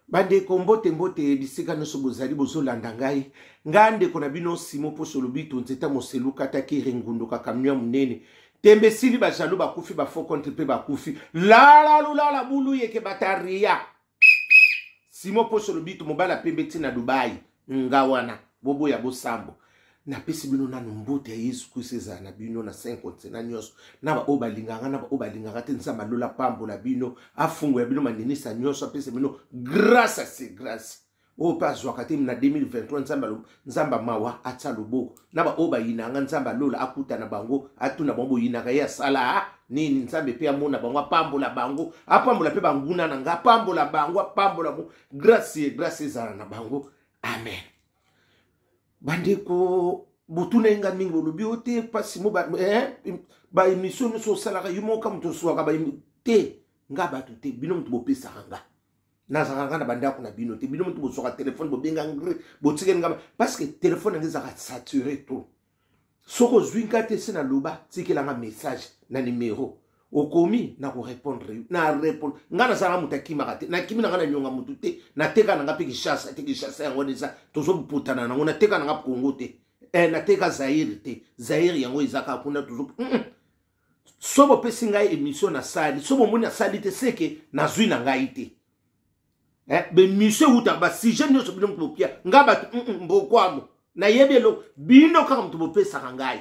bandeko mbote mbote bisika nyonso bozali bozolanda ngai ngai ndeko na bino simo mposo lobito nzeta moselu kataki rengunduka kamio ya monene tembe esili bajalo bakufi bafo contre mpe bakufi lalalulala bulu yeke bataria simo mposo lobito mobala pembe ntina dubai nga wana boboya bosambo napesi bino nanu mbote ya yesu kristo ezala na bino na saint continent nyonso na baoyo balingaka na baoyo balingaka te nzambe alola apambola bino afungola bino maninisa nyonso apesa bino grâce ase grâce oyo mpe azwaka te na 2023 nzambe nzambe mawa atya loboko na baoyo bayinanga nzambe alola akutana bango atuna bango boyinaka ye asala nini nzambe mpe amona bango apambola bango apambola mpe banguna na ngai apambola bango apambola bango grace grace ezala na bango amen bandeko botuna ye ngai mingi bolobi o te mpasi mo baemission eh, nyonso osalaka yo moka moto osuaka te nga bato te bino moto bopesaka nga nazalaka nga na bandako na bino te bino moto bosuaka telefone bobenga ngre botikeli nga parce que telefone yango ezalaka sature to soki ozwi nga te se naloba tikela nga message na nimero okomi na korepondre yo na repondre ngai nazalaka moto akimaka te nakimi na ngai nanyonga motu te nateka na ngai mpe kishasa te kishasa yango wana eza tozobutana nango nateka na ngai kongo te eh, nateka zaire te zaire yango eza kaka kuna tozo mm -mm. soki bopesi ngai émission nasali soki bomoni nasali te seke nazwi na ngai te eh, bemisio ewutaka basujet nyonso bino moto bopia ngai bato mm, mm, mbokwamo nayebi eloko bino kaka moto bopesaka ngai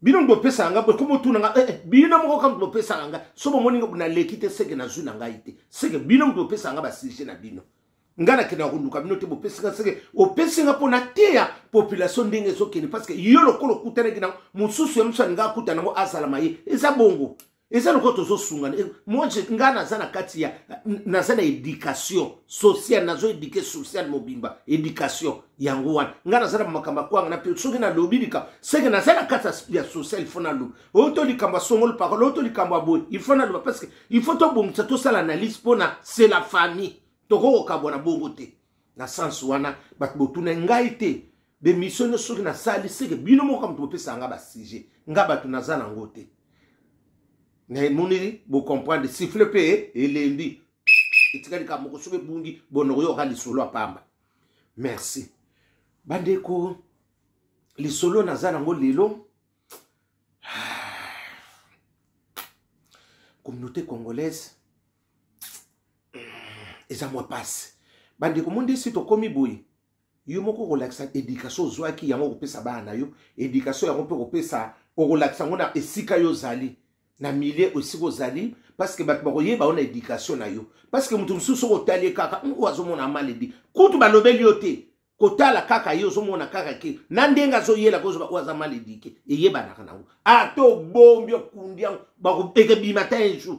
bino moto bopesaka ngai ekomi otuna ngai eh, eh, bino moko kaka moto bopesaka ngai so bomoni naleki te seke nazwi na ngai te seke bino moto bopesaka ngai basujet na bino ngai nakendaka koluka bino te bopesi ngai seke opesi ngai mpo nateya population ndenge ezokende parce que yo lokola okutanaki nango mosusu ya mosu alingaka akutana yango azalama ye eza bongo eza lokola tozosungana eh, moi ngai naza na kati ya naza na éducation sociale nazo éduke sociale mobimba éducation yango wana ngai naza na makambo akwanga na mpe soki nalobi likambo seke naza na kati ya sociale ifo naloba oyo to likambo ya songolo parole oyo to likambo ya boye ifo naloba parce que ifo tobongisa tosala analyse mpona c'est la famille tokoki kokabwana bongo te na sense wana bato botuna ngai te bemission nyo soki nasali seke bino moko moto bopesaka nga basujet nga bato naza nango te namoni bocomprendre sifle mpe elembi etikali ka moko soki ebungi bonokoyoka lisolo ya pamba merci bandeko lisolo naza nango lelo communauté congolaise eza mwa mpasi bandeko mondesi tokomi boye yo moko okolakisa edikasio ozwaki yango okopesa bana na yo edikasio yango mpe okopesa okolakisa yango na esika yo ozali na milie esika ozali parceke bato bakoyeba yo na edikasio na yo parceke moto mosusu soki otali ye kaka oyo azomona maledi kutu balobeli yo te kotala kaka ye ozomona kaka ke na ndenge azoyelaka ozoba oyo aza maledike eyebanaka nango ata obombi okundi yango ekebima ta un jour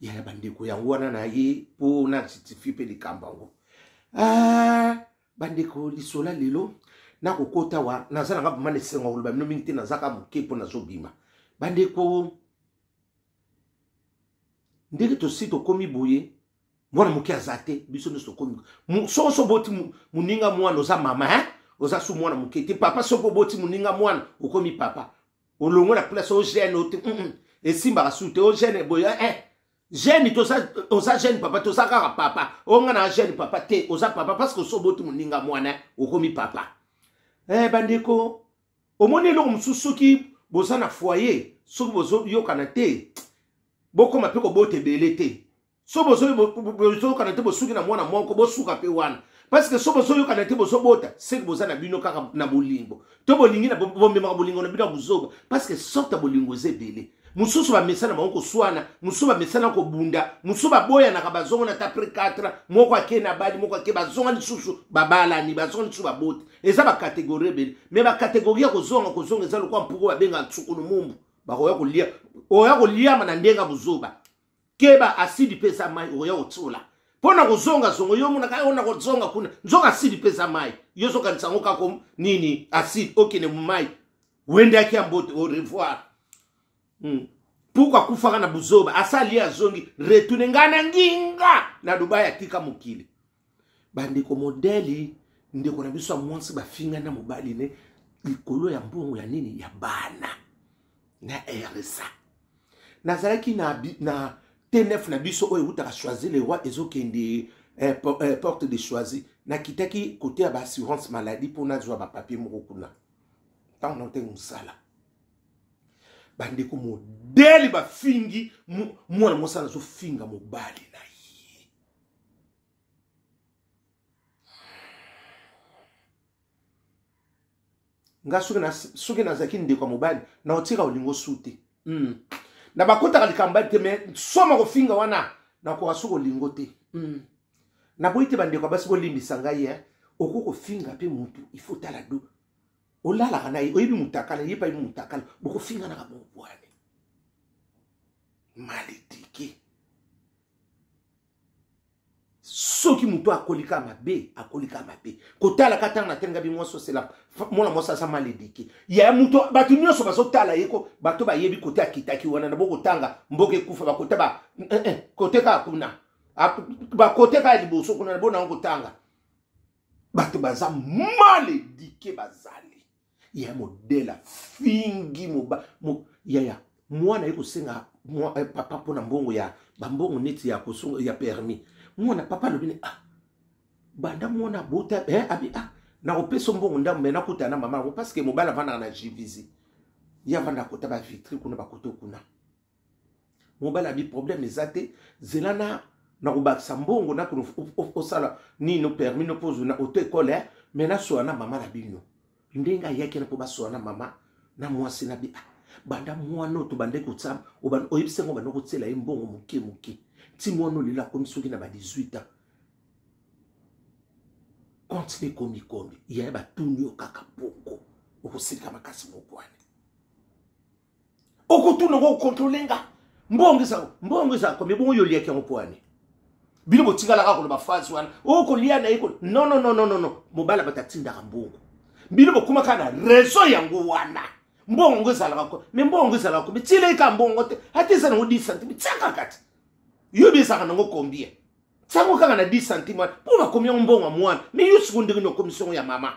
yaya bandeko yango wana na ye mpo na justifie mpe likambo yango ah, bandeko lisola lelo nakokota wa naza nanga vraimen esengo ya koloba bino mingi te nazaka moke mpo nazobima bandeko ndenge tosi tokomi boye mwana moke aza te biso nyonso tokomi soko so oboti moninga mwana oza mama hein? oza su mwana moke te papa soki oboti moninga mwana okomi papa olongo na place o gene ote mm -mm. esimbaka su te o gene boye eh, eh. gene toza oza gene papa toza kaka papa onga na gene papa te oza papa parce que osoboti moninga mwana okomi papa eh, bandeko omoni eloko mosusu soki boza na foyer soki bozoyokana te bokoma mpe kobota ebele te so bozoyokana te bosuki na mwana moko bosuka mpe wana parce que so bozoyokana te bozobota seke boza na bino kaka na bolingo to bolingi na bomemaka bolingo na bino ya bozoba parce que sorte ya bolingo eza ebele mosusu bamesana bango koswana mosusu bamesana kobunda mosusu baboyanaka bazongana ata apres 4 moko ake na bali moko ake bazonga lisusu babalani bazonga lisusu baboti eza bakategori ebele me bakategori ya kozonga kozonga eza lokola mpuku babengaka nsukulu mumbu bakoya kolia oya koliama na ndenge ya bozoba keba asidi mpe eza mai okoya kotiola mpo na kozonga zongo yo omonaka yo na kozonga kuna nzoka asidi mpe eza mai yo ozokanisa yango kako nini asidi okende momai wendaki ya mbote au revoir hmm. puku akufaka na buzoba asali azongi retune ngai na nginga na dubai atika mokili bandeko modeli ndeko na biso ya mwasi bafinga na mobali ne likolo ya mbongo ya nini ya bana na rsa nazalaki na, na tnf na biso oyo ewutaka choisi le roi ezokende eh, eh, porte de choisi nakitaki kote ya baassurance maladie mpo nazwa bapapier moko kuna ntango naotaki mosala bandeko modele bafingi mwana mosala azofinga mobali na ye nga soki nazalaki ndeko ya mobali na otika olingo su te mm. na bakotaka likambo bali te me soma kofinga wana nakoka soki olingo te mm. naboyi te bandeko ya basi bolimbisa ngai eh. okoki kofinga mpe motu ifo tala do olalaka na ye oyebi motakala ye payebi motakala bokofinganaka bobwane maledike soki moto akolika mabe akolika mabe kotalaka ntango natenga bi mwasi osela mwana mwasi aza mal edike ya moto bato nyonso bazotala ye ko bato bayebi kote akitaki wana na bokotanga mboka ekufa bakota ba eh, eh, kote kaka kuna bakote kaka liboso kuna na bonango kotanga bato baza mal edike bazali yaya modele afingi moba mo, yaya mwana ye kosenga mwa, eh, papa mpo na mbongo ya bambongo neti ya, kosonga, ya permis mwana papa alobi ne ah, banda mwana abota eh, abi ah, nakopesa mbongo ndambo me nakutana na mama yango parceke mobali avandaka na jivisi ye avandaka kota bavitre kuna bakoto kuna mobali abi problème eza te zela na nakobakisa mbongo nakuna osala nino permis no mpo ozwi na auto ekole eh? me nasola na mama na bino ndenge ayaki na mpo basola na mama na mwasi na bi ah, banda mwana oyo tobande kotsama oyebisi yango banda kotyela ye mbongo moke moke nti mwana oyo lelo akomi soki na ba 18 ans konti mpe komikomi yaye batuni yo kaka poko okosilika makasi moko wana okotuna ko controle nga mbongo eza mbongo eza combien bongo yo oliaki yango mpo wane bino botikalaka koloba phrase wana okolia oh, na ye ko non non non non non mobala bato atindaka mbongo bino bokomaka na raison yango wana mbongo yango ezalaka ko me mbongo yango ezalaka ko bitieleki ka mbongo te ata eza nango 10 centime tiaka kati yo biezaka nango combien tiango kaka na 10 centime wana mpo bakomi yango mbongo ya mwana me yo siko ndenge niokomisi yango ya mama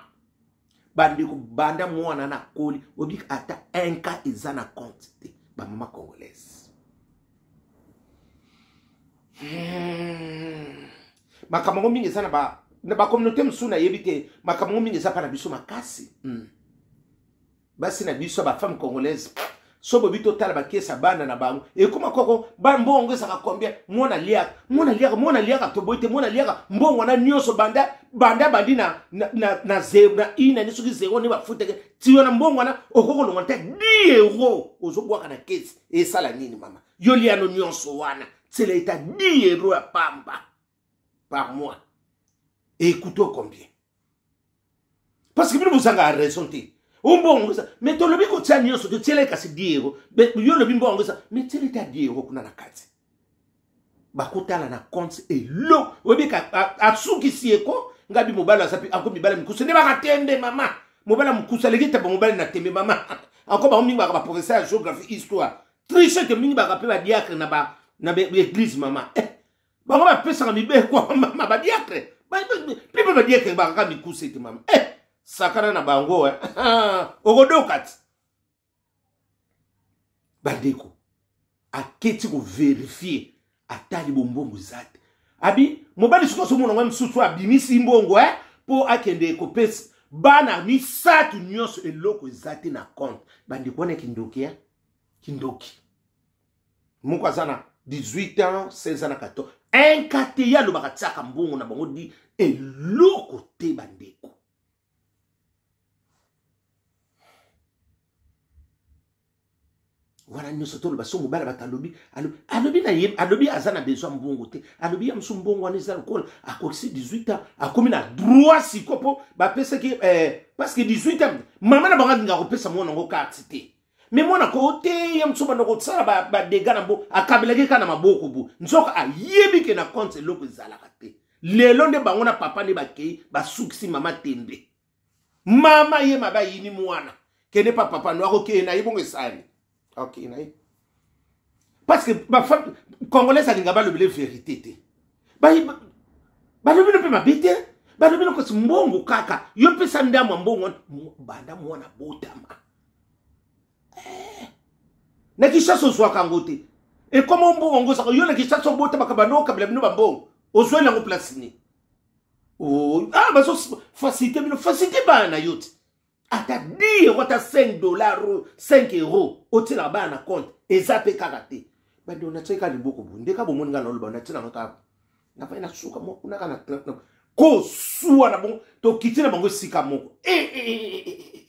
bandeko banda mwana na koli obiki ata un cas eza na compte te bamama congolaise hmm. makambo yango mingi eza na bacommunauté mosusu nayebi te makambo yango mingi eza mpa na biso makasi hmm. basi na biso bafemme congolaise so bobi totala bakesi ya bana na bango ekoma koko mbongo ezaka combien mwana liaka mwana liaka mwana liaka toboyi te mwana liaka mbongo wana nyonso banda banda bandi na na na na zero na ina ni soki zero ni bafuteke ti wana mbongo wana okoki kolonga nte 10 euro ozobwaka na kesi esala nini mama yo liano nyonso wana tsela eta 10 euro ya pamba par mois ekutoo combien parce que bino bozanga raison te ombongo eza me tolobi kotia nyonso totiela ye kasi diego yo olobi mbongo eza me tiela ete adiego kuna na kati bakotala na compte elo oyebi asukisi ye ko ngabi mobali aza mpe ako mibala mikuse nde baka tembe mama mobali mokuse aleki taba mobali na tembe mama anko bango mingi baka baprofesseur ya géographie histoire trichete mingi baka mpe badiacre na baeglise mama eh, bango bapesaka mibeko ya mama badiakre pipe badiakre bakaka mikuse te mama eh, sakana na bango eh. okodoka ti bandeko aketi koverifie atali bombongo eza te abi mobali soki ozomona ngo mosusu abimisi mbongo e eh, mpo akende kopesa bana misato nyonso eloko eza te na compte bandeko wana kindoki e kindoki moko aza na 18 ans 16 ans na 14 inka te ye alobaka tiaka mbongo na bango di eloko te bandeko wana nyonso toloba so mobali bato alobi alobi na ye alobi aza na besoin mbongo te alobi ya mosu mbongo wana eza lokola akokisi 18 ans akomi na droit siko mpo bapesaki eh, parce que 18 ans mama na bango alinga kopesa mwana yango karte te me mwana koo te ye mosusu banda kosala badega na mbo akabelaki kaka na maboko bo nzoka ayebi ke na konte eloko ezalaka te lelo nde bango na papa nde bakei basukisi mama tembe mama ye mabe ayini mwana kende pa papa no akokeye na ye bongo esali akokeye na ye parce que congolais alinga balobele verité te balobi no mpe mabe te balobi no kasi mbongo kaka yo pesa ndamwa mbongo banda mwana botama eh. na kishasa ozwaka yango te ekoma ombongo yango ozaka yo na kishasa obotamaka bano okabela bino bambongo ozweli yango place nini oh, ah, bazo facilité bino facilité bana na yo te ata di yango ata 5 dollar 5 euro otyelaka bana na compte eza mpe kaka te bande onatyaki kaka liboko bo ndeka bomoni ngai naoloba onatyelanga kaka na fai na suka mwa kuna kaka na club na kosuwa na bango tokiti na bango esika moko eh, eh, eh,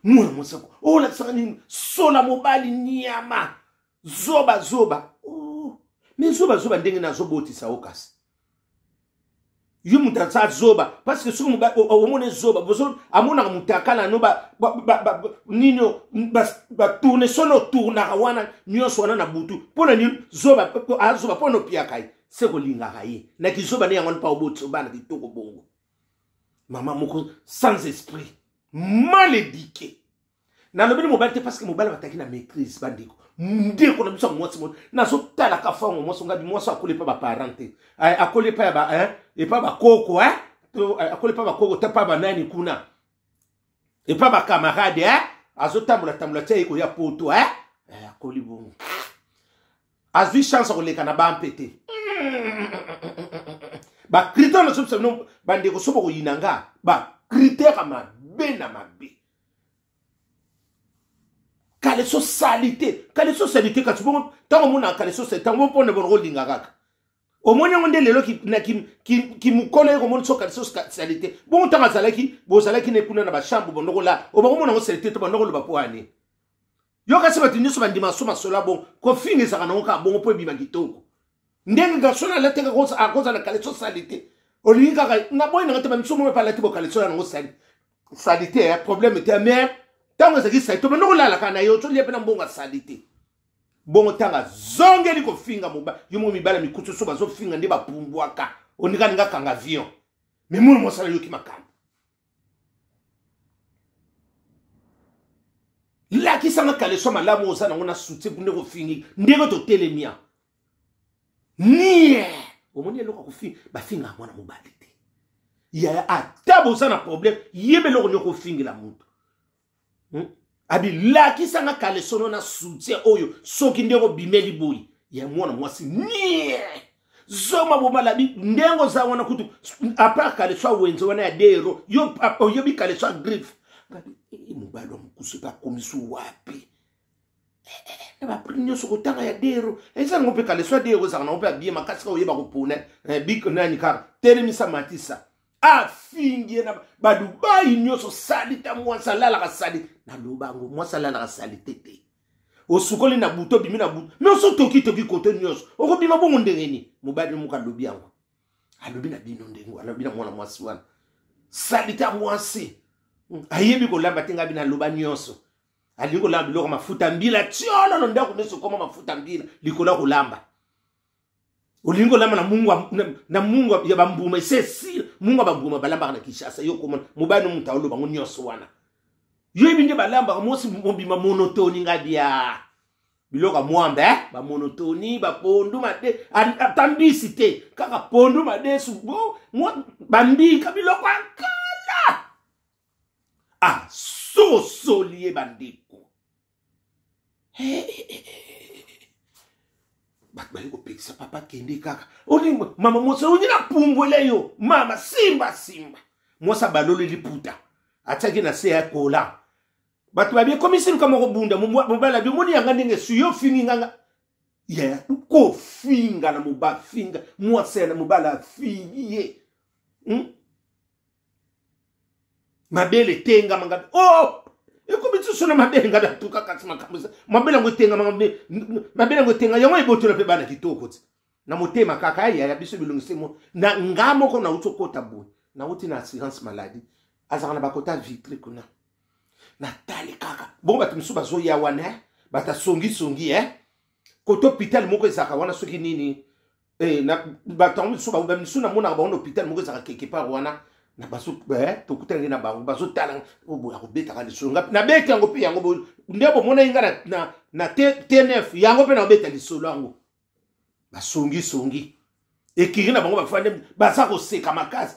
mwana mosako olakisaka oh, nini sola mobali nyama zoba zoba oh. me zoba zoba ndenge nazobotisa yo kasi yo moto aza zoba parce que soki omona zoba bozo amonaka mutakala no nini batourne sono otournaka wana nyonso wana na butu mpo na nini zoba azoba mpo na opiyaka ye se kolingaka ye na kizoba ne yango wana mpa oboti obana kitoko bongo mama moko sans esprit mal éduqué nalobeli mobali te parce que mobali bataki na maîtrise bandeko ndeko na biso ya mwasi moko nazotalaka fango mwasi ngabi mwasi akoli epa baparent te akoli epa ya epa bakoko akoli epa bakoko te epa banani kuna epa bakamarade eh? azotambola tambola ti aye koya poto eh? eh, akoli bongo azwi chance akoleka na bampe te bacritère na so bisa bino bandeko so bakoyina nga bacritère ya mabe na mabe kaleso salite kaleso salite kasi bongo ntango omonaka kaleso salite ntango bongo mpona bongo olinga kaka omoni yango nde lelo kimokolo ye komoni so kaleso salite bongo ntango azalaki bozalaki ne kuna na bachambre bondokola obakomona yango salite to bandokoloba mpo ani yo kasi bato nyonso bandima so masolo ya bongo kofinga ezalaka nango kaka bongo mpo ebima kitoko ndenge garson alateka akoza na kaleso sali te olingi kaka na boyi nanga te bamiso moko epe alati bokaleso ya nango sali sali te eh, problème te mais ntango ezalaki sali to banda kolalaka na ye ozolia mpe na mbongo ya sali te bongo ntango azongeli kofinga moba yo moko mibala mikutu so bazofinga nde bapumbwaka onikaninga kanga avion me mona mosala yoki makambo lakisanga kaleso malamu oza nango na soutien kuna ekofingi ndenge totelemia nie omoni eloko akofinga bafinga ya mwana mobali te yaya ata boza na problème yeba eloko niokofingi la moto hmm? abi lakisa nga kalesono na soutien oyo soki ndenge obimeli boyi ya mwana mwasi nie zoma bomalabi ndenge oza wana kutu apart kaleso awenze wana ya dero yo oyebi kaleso ya griffe eh, mobali wa mokusu epe akomisi wapi na baprime nyonso kotanga ya dero ezali ngo mpe kaleso ya dero ezalaka nango mpe abie makasi ka oyeba kopona eh, bik nani kaka telemisa matisa afingi ye na badubai nyonso salita mwasi alalaka sali naloba yango mwasi alalaka salite te osukoli na butu obimi na butu me oso tokitoki kote nyonso okobima bongo ndenge nini mobali moko alobi yango alobi na bino ndenge alobi na mwana mwasi wana salita mwasi hmm, ayebi kolamba te ngai bino aloba nyonso alingi kolamba biloko mafuta mbila tiololo ndako nyonso okoma mafuta mbila likolo ya kolamba olingi olamba na mungwa na mungwa ya bambuma esesire mungwa bambuma balambaka na kinshasa yo komona mobali no moto aoloba yango nyonso wana yo yebi nde balambaka mosi mobima monotoni ngai bia biloko ya mwambe eh? bamonotoni bapondu made ata mbisi te kaka pondu madesu bambika biloko ya kala asosoli ah, ye bandeko bato baye kopekisa papa kende kaka olingo mama mwasi olingi na pumbwela yo mama simba simba mwasi abaloli liputa atiaki na se ya kola bato babie komisi luka moko bunda mobala bi omoni yanga ndenge suyo ofingi nganga ya kofinga na mobafinga mwasi ya na mobala afingi ye hmm? mabele etengama ngabe o oh! ekomi lisusu na mabele ngabe atuka kati makambo eza mabele yango etengama mabele yango etenga yango ebotola mpe bana kitoko ti na motema kaka ya yaya biso bilongisi mo na nga moko nauti okota boye nauti na assurance maladie azalaka na bakota vitre kuna natali kaka bongo bato mosusu bazoya wana eh? batasongisongi e eh? koto hôpital moko ezalaka wana soki nini eh, bato yango misusu bamisusu namonaka bango na hôpital moko ezalaka quelque part wana na bazo eh, tokutanaki na bango bazotala oh, boya kobetaka lisolo ngapi nabeti yango mpe yango nde bomonaki nga na, na, na tnf yango mpe nakobeta lisolo yango basongisongi ekiri na bango bafande baza koseka makasi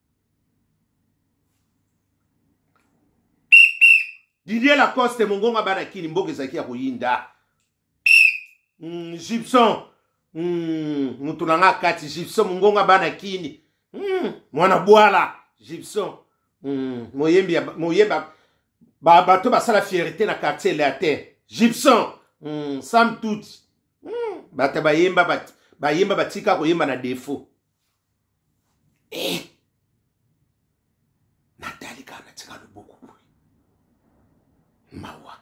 didier lacoste mongonga bana kini mboka ezalaki ya koyinda mm, gibson mm, moto na nga kati gibson mongonga bana kini mm, mwana bwala gibson mm, moyembi moyemba ba, bato basala fierté na quartier latin gibson mm, sam tuti mm, bato bayemba bat, bayemba batika koyemba na defaut eh! natali kaka natika loboko boye mawa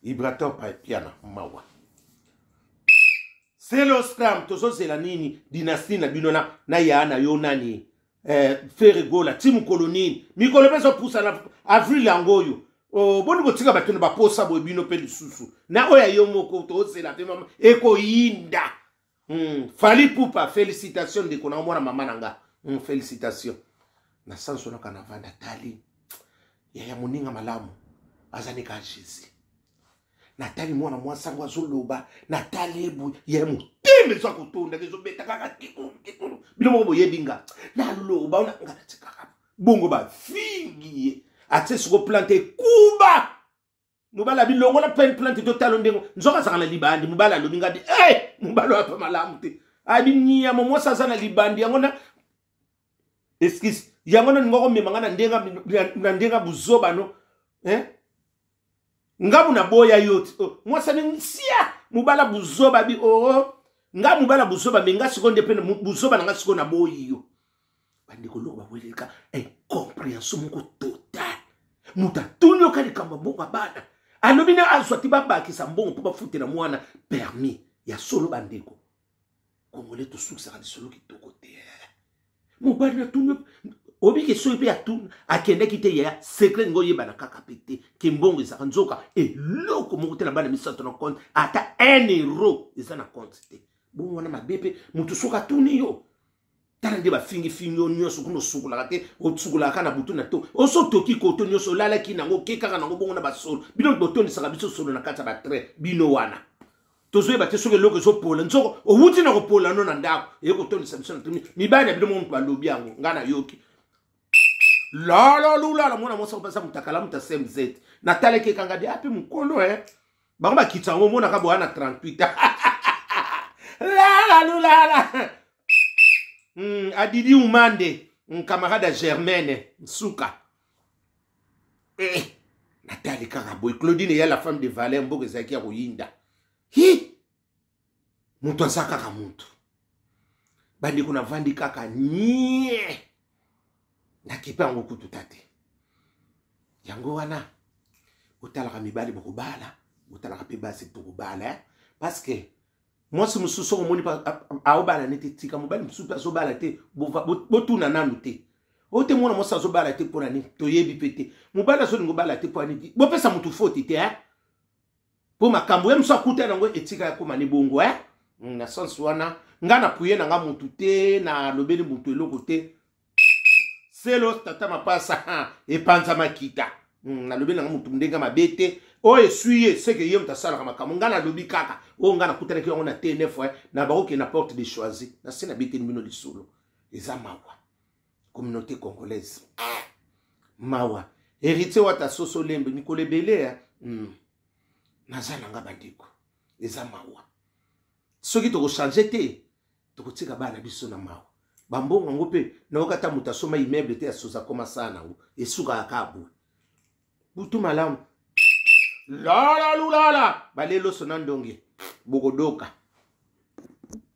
vibrateur paepiana mawa seloscram tozozela nini dinasti na bino na, na yaa na yo nani eh, feregola ti mokolo nini mikolo mpe ezopusana avril yango oyo oh, boni botika bato na baposa boye bino mpe lisusu na oyo ya yo moko tozela mpe mama ekoyinda mm, fali pupa félicitation ndeko na omona mama na nga mm, félicitation na sanso naka na vanda tali yaya moninga malamu azali ka jésus natali mwana mwasi yango azoloba natali ye boye ye motema eza kotondaka ezobeta kaka kikulu bino moko boyebi nga naloba ona nga natikaka bongo bafingi ye atie siko plante ekuba mobali abi longola pen plante totalo ndenge nzoka azaka na libandi mobali alobi ngadi e hey! mobali oyo apa malamu te abi niama mwasi aza na libandi yango na excuse yango naninga komema nga na ndenge ya buzoba no eh? ngamu naboya yo ti oh, mwasi aningi sia mobala buzoba bi oo oh, oh. nga mobala buzoba me nga sikoyo nde mpe buzoba na nga sikoyo naboyi yo bandeko eloko bakoyeleka incomprehension moko total moto atuni yoka likambo ya mbongo abana alobi na azwa ti babakisa mbongo mpo bafutela mwana permis ya solo bandeko kongole tosukisaka lisolo kitoko te mobali natuni oyebi ke soki mpe atuni akendaki te yaya secret ngo oyebana kaka mpe te ke mbongo ezalaka nzoka eloko moko te na bana misato na compte ata un euro eza na compte te bongo wana mabe mpe moto soki atuni yo tala nde bafingifingi yo nyonso kuna osukolaka te osukolaka na butu na to oso otoki koto nyonso olalaki nango oke kaka nango bongo na basolo bino botondisaka biso solo na kati ya batrai bino wana tozoyeba te soki eloko ezopola nzoko owuti na kopola no na ndako eye kotondisa biso na tuni mibali na bino moko moto balobi yango ngai nayoki lololula na mwana mwasi kopesa motakala moto asemzete natalaki ekanga de ape ah, mokolo e eh. bango bakitisa yango omonaka boya na 38 lalalulala mm, adidi umande nkamarade ya germaine nsuka eh, natali kaka boye claudine eya la femme de valeur mboka ezalaki ya koyinda hi moto aza kaka moto bandeko navandi kaka nie nakipe yango kutu ta te yango wana botalaka mibali bokobala botalaka mpe basi tokobala eh? parce que mwasi mosusu soko omoni aobala ne te tika mobali mosusu mpe azobala te botuna nanu te oyo te mwana mwasi azobala te mpo na nini toyebi mpe te mobali azolinga obala te mpo ya nini bopesa motu foti te eh? mpo makambo ye mosu akuta nango etika ya koma ni bongo eh? Mm, na sense wana nga na puye na nga mutu te nalobeli mutu eloko te selo tata mapasa epanza makita mm, nalobeli nanga mutu ndenge mabe te oyo eswi ye seke ye moto asalaka makambo ngai nalobi kaka oyo ngai nakutanaki yango na tnf eh, na bakokende na porte de choisi nase nabeteli bino lisolo eza mawa communauté congolaise ah! mawa héritier wata soso lembe mikolo ebele ya mm. naza na nga bandeko eza mawa soki tokochange te tokotika bana biso na mawa bambongo yango mpe nayoka ata moto asoma immeuble te asoza koma saa na yango esukaka kaka boye butu malamu lala lulala baleloso na ndonge bokodoka